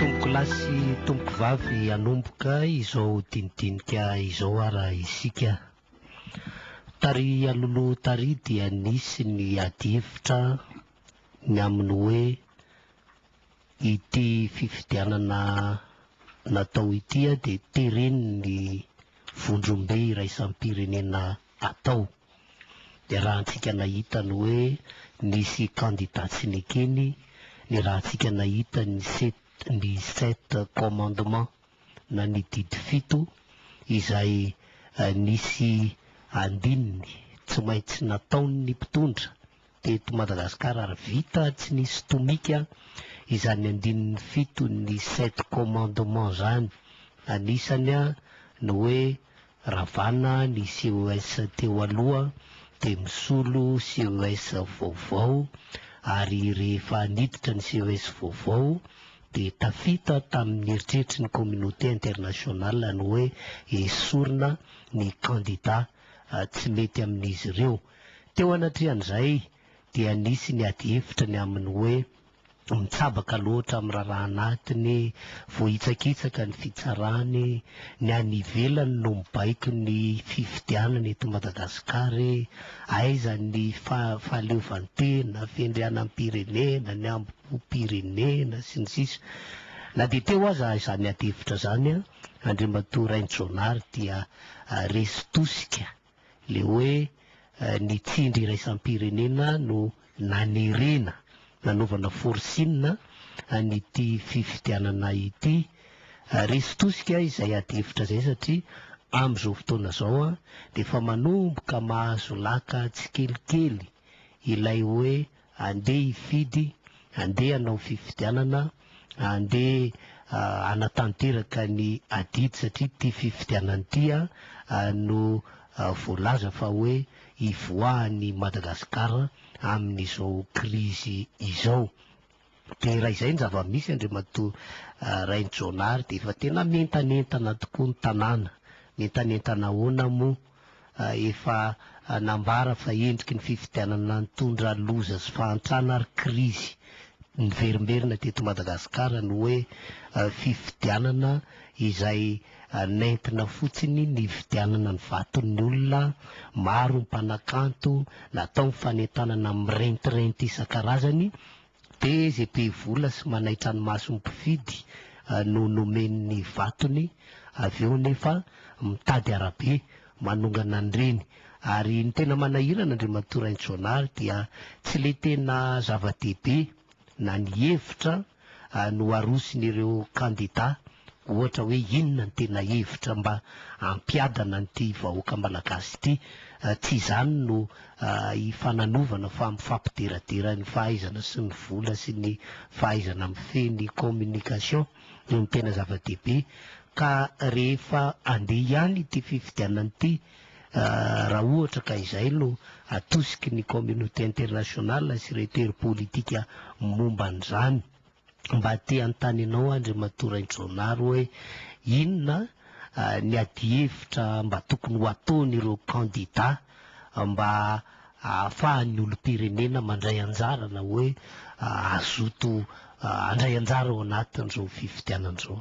Tompoko lahy sy tompoko vavy hanomboka izao dinidinika izao ara isika. Tary anoloha tary dia nisy ny adihevitra ny amin'ny hoe ity fifidianana natao ity dia teren'ny vondrombe iraisam-pirenena atao. ny rahantsika nahita ny hoe nisy kandida tsy nekeny, ny rahantsika nahita ny ny sept commandements na ny didy fito izay nisy andininy tsy maintsy nataon'ny mpitondra Teto Madagasikara ary vita tsy nisy tomika izany andininy fito ny sept commandements zany, anisany ny hoe ravana ny CES teo aloha dia misolo CES vaovao ary rehefa niditra ny CES vaovao dia tafita tamin'ny eritreritry ny communauté internationale ny hoe esorina ny candidats tsy mety amin'izy ireo. Teo anatrehan'izay dia nisy ny adihevitra ny amin'ny hoe mitsabaka loatra amin'ny raharaha anatiny, voahitsakitsaka ny fitsarany, ny any ivelany no mibaiko ny fifidianana eto Madagasikara, aiza ny fahaleovantena, fiandrianam-pirenena, ny hambom-pirenena, sy ny sisa Na dia teo aza izany adihevitra izany, Andriamatoa Rainijaonary dia resy tosika le hoe ny tsindry iraisam-pirenena no nanerena nanaovana forcing an'ity fifidianana ity. Resy tosika izay adihevitra izay satria amin'izao fotoana izao dia efa manomboka mahazo laka tsikelikely ilay hoe Andeha hifidy, andeha hanao fifidianana, andeha hanatanteraka ny adidy satria ity fifidianana ity no voalaza fa hoe hivoahan'i Madagasikara amin'izao krizy izao. Dia raha izay ny zava-misy Andriamatoa Rainijaonary dia efa tena mientanentana tokoa ny tanàna. Mientanentana ahoana moa? efa nambara fa endriky ny fifidianana nitondra loza sy fahantrana ary krizy niverimberina teto Madagasikara ny hoe fifidianana izay nentina fotsiny nividianana ny vaton'ny olona, maro ny mpanakanto, natao ny fanentanana mirentirenty isan-karazany, Dia izay be vola sy manaitra ny mason'ny mpividy no nomeny ny vatony, avy eo anefa mitady arabe manongana an'ireny. Ary ny tena manahirana, Andriamatoa Raintsoanary, dia tsy ilay tena zava-dehibe na ny hevitra no aroson'ireo kandida Ohatra hoe inona ny tena hevitra mba hampiadana an'ity vahoaka malagasy ity? Tsy izany no hifananovana fa mifampideradera ny fahaizana sy ny vola sy ny fahaizana mifehy ny communication no tena zava-dehibe ka rehefa andeha ihany ity fifidianana ity raha ohatra ka izay no atosiky ny communauté internationale sy ireto hery politika momba an'izany. Mba te hanontany anao Andriamatoa Raindronary hoe inona ny adihevitra mba tokony ho ataon'ireo kandida mba ahafahan'ny olom-pirenena mandray anjara na hoe hazoto handray anjara ao anatin'izao fifidianana izao?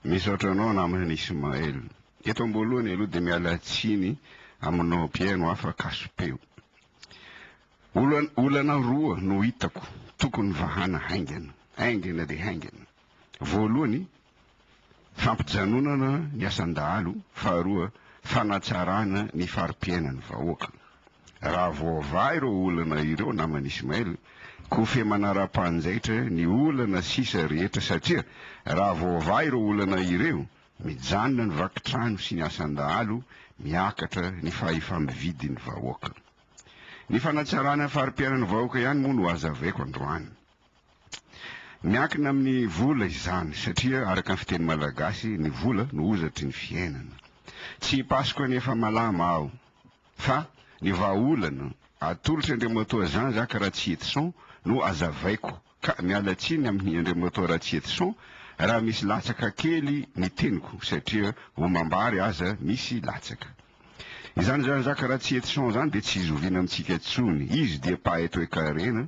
Misaotra anao namana Ismaël. Eto amboalohany aloha dia miala tsiny aminao Pierre no afa-kaso-peo. Olana roa no hitako tokony vahana haingana, haingana dia haingana. Voalohany, fampijanonana ny asan-dahalo, faharoa, fanatsarana ny fari-piainan'ny vahoaka. Raha voavaha ireo olana ireo, naman'i Ismail, kofehy manara-panjaitra ny olana sisa rehetra satria raha voavaha ireo olana ireo, mijanona ny vaky trano sy ny asan-dahalo, miakatra ny fahefa-mividin'ny vahoaka. Ny fanatsarana ny fari-piainan'ny vahoaka ihany moa no hazavaiko androany. Miankina amin'ny vola izany satria araka ny fiteny malagasy ny vola no hozatry ny fiainana. Tsy Hipasoka ny efa malama aho fa ny vahaolana atolotr'Andriamatoa Jean Jacques Ratsietison no hazavaiko. Ka miala tsiny amin'ny André Motorati et son raha misy latsaka kely ny teniko satria omam-bary aza misy latsaka. Izany Jean-Jacques Ratsy et son izany dia tsy zoviana amintsika intsony. Izy dia paeto et karena,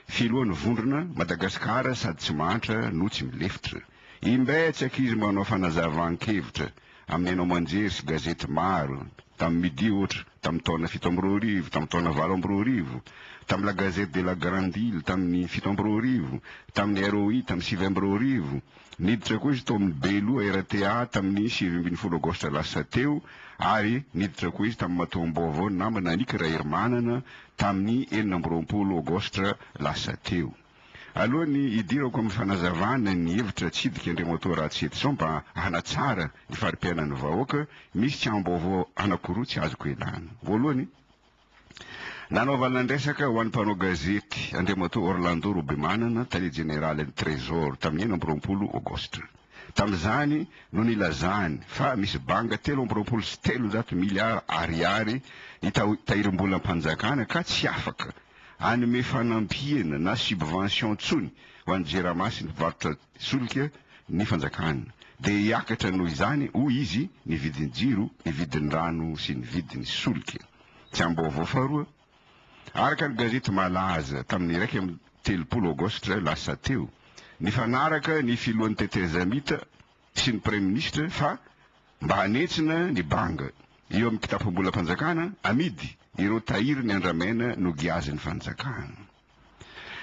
filohan'ny vondrona Madagasikara sady tsy mahantra no tsy milefitra. Imbetsaka izy manao fanazavan-kevitra. amin'ny haino aman-jery sy gazety maro, tamin'ny Midi ohatra, tamin'ny taona fito amby roa arivo, tamin'ny taona valo amby roa arivo, tamin'ny La Gazette de la Grande Ile tamin'ny fito amby roa arivo, tamin'ny ROI tamin'ny sivy amby roa arivo, niditra koa izy tao amin'ny Beloha RTA tamin'ny sivy ambin'ny folo Aogositra lasa teo ary niditra koa izy tamin'ny matoam-baovao namana Anick Raherimanana tamin'ny enina amby roapolo Aogositra lasa teo. Alohan'ny hidirako amin'ny fanazavana ny hevitra hitsidika Andriamatoa Ratsietison mba hanatsara ny fari-piainan'ny vahoaka, misy tsahambaovao anankiroa tsy azoko ialana. Voalohany, nanaovana ny resaka ho an'ny mpanao gazety Andriamatoa Orlando Robemanana, tale jeneralin'ny Trésor, tamin'ny enina amby roapolo Aogositra. Tamin'izany no nilazany fa misy banga telo amby roapolo sy telonjato miliara Ariary ny tahirim-bolam-panjakana ka tsy afaka hanome fanampiana na subvention intsony ho an'ny Jirama sy ny mpivarotra solika ny fanjakana, dia hiakatra noho izany, hoy izy, ny vidin'ny jiro, ny vidin'ny rano sy ny vidin'ny solika. Tsy ambaovao faharoa. Araka ny gazety malaza tamin'ny iraika amby telopolo aogositra lasa teo, nifanaraka ny filohan'ny Tetezamita sy ny praiminisitra fa mba hanentsina ny banga eo amin'ny kitapom-bolam-panjakana amidy ireo tahirin'ny andramena nogiazin'ny fanjakana.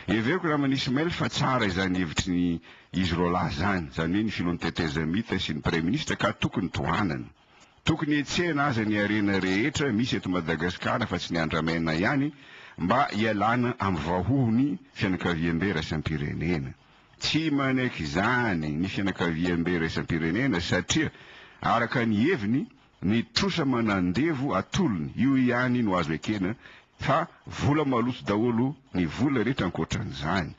Heveriko Raman Ismail fa tsara izany hevitry ny izy roalahy izany, izany hoe ny filohan'ny tetezamita sy ny praiminisitra ka tokony tohanana. Tokony hetsehina aza ny harena rehetra misy eto Madagasikara fa tsy ny andramena ihany mba hialana amin'ny vahohon'ny fianakaviambe raisam-pirenena. Tsy manaiky izany ny fianakaviambe iraisam-pirenena satria, araka ny heviny, ny trosa manandevo atolony io ihany no azo ekena fa vola maloto daholo ny vola rehetra ankoatran'izany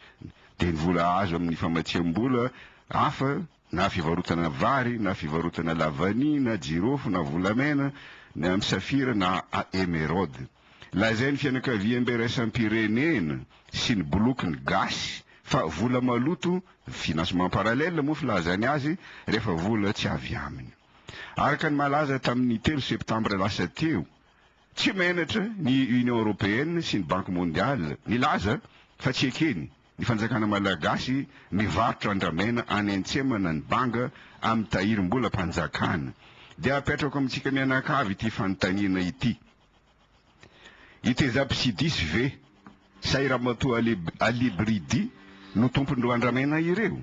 dia ny vola azo amin'ny famatsiam-bola hafa na fivarotana vary na fivarotana lavania na jirofo na volamena ny an'i Safira na Emeraude. Lazain'ny fianakaviam-biraisam-pirenena sy ny bolokin'ny gasy fa vola maloto, financement parallèle moa filazany azy, rehefa vola tsy avy aminy. Araka ny malaza tamin'ny telo septambra lasa teo, tsy menatra ny Union Européenne sy ny Banky Mondiale nilaza fa tsy ekeny Ny fanjakana malagasy mivarotra andramena any antsemana ny banga amin'ny tahirim-bola mpanjakana dia apetrako amintsika mianakavy ity fanontaniana ity, itezab sidis ve sa i ramatoa alibridy no tompon'ireo andramena ireo?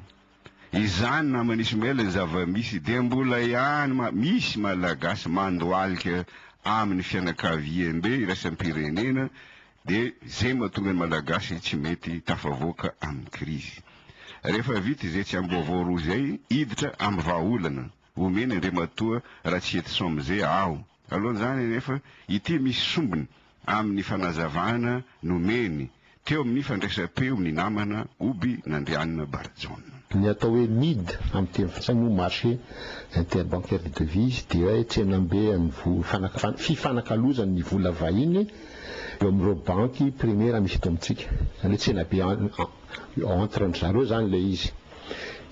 Izany naman'i Ismaël ny zava-misy dia mbola ihany ma misy Malagasy mandohalika amin'ny fianakaviambe iraisam-pirenena dia izay mahatonga ny Malagasy tsy mety tafavoaka amin'ny krizy. Rehefa vita izay tsy amboavao roa izay hiditra amin'ny vahaolana. omeny Andriamatoa Ratsietison Mzee aho. Alohan'izany anefa, ity misy sombiny amin'ny fanazavana nomeny teo amin'ny fandraisam-peo ny namana Oby Nandrianina Barajaona. Ny atao hoe mid amin'ny teny frantsay moa marché interbancaire des devises dia hoe tsenam-be an'ny vola, fifanakalozan' ny vola vahiny eo amin'ireo banky primaire misy eto amintsika. Izany hoe tsenabe entre an-dry zareo izany ilay izy.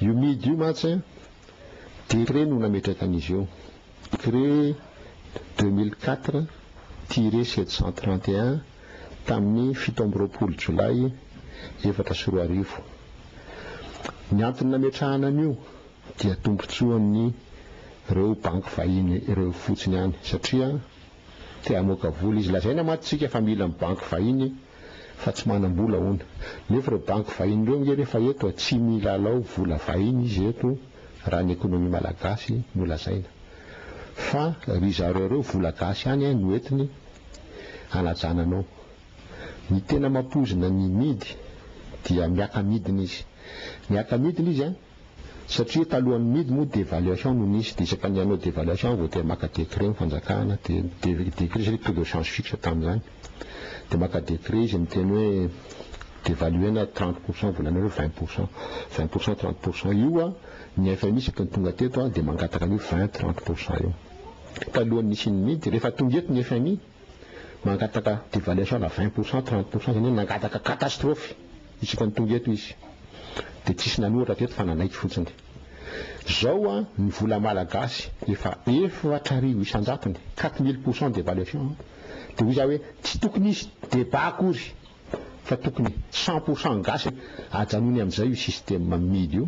Io mid io mantsy. Decret no nametraka an'izy io. Decret deux mille quatre tiret sept cent trente et un tamin'ny fito amby roapolo jolay efatra sy roa arivo. Ny antony nametrahana an'io dia tombontsoa amin'ireo banky vahiny ireo fotsiny ihany satria, Te hamoaka vola izy. Lazaina mantsy tsika fa mila ny banky vahiny fa tsy manam-bola hono. Nefa ireo banky vahiny ireo ange rehefa eto tsy milalao vola vahiny izy eto raha ny ekonomia malagasy no lazaina. Fa ry zareo ireo vola gasy ihany no entiny hanajana anao. Ny tena mampoizina ny midy dia miaka-midina izy. Miaka-midina izy an! Satria talohan'ny midy moa devaluation no nisy dia isaka ny hanao devaluation vao te maka décret ny fanjakana dia dia décret satria taux de change fixe tamin'izany dia maka décret izy miteny hoe devaluena trente pour cent volanareo vingt pour cent vingt pour cent trente pour cent io ny FMI isaky ny tonga teto dia mangataka an'io vingt trente pour cent io talohan'ny nisian'ny midy rehefa tonga eto ny FMI mangataka devaluation ana vingt pour cent, trente pour cent, izany hoe nangataka catastrophe isika ny tonga eto izy. Dia tsisy nanoratra teto fa nanaiky fotsiny. Zao an, ny vola malagasy efa efatra arivo isan-jatony, quatre mille pour cent devaluation an. Dia hoy za hoe tsy tokony hisy débat akory fa tokony cent pour cent gasy ajanony amin'izay io système mily io.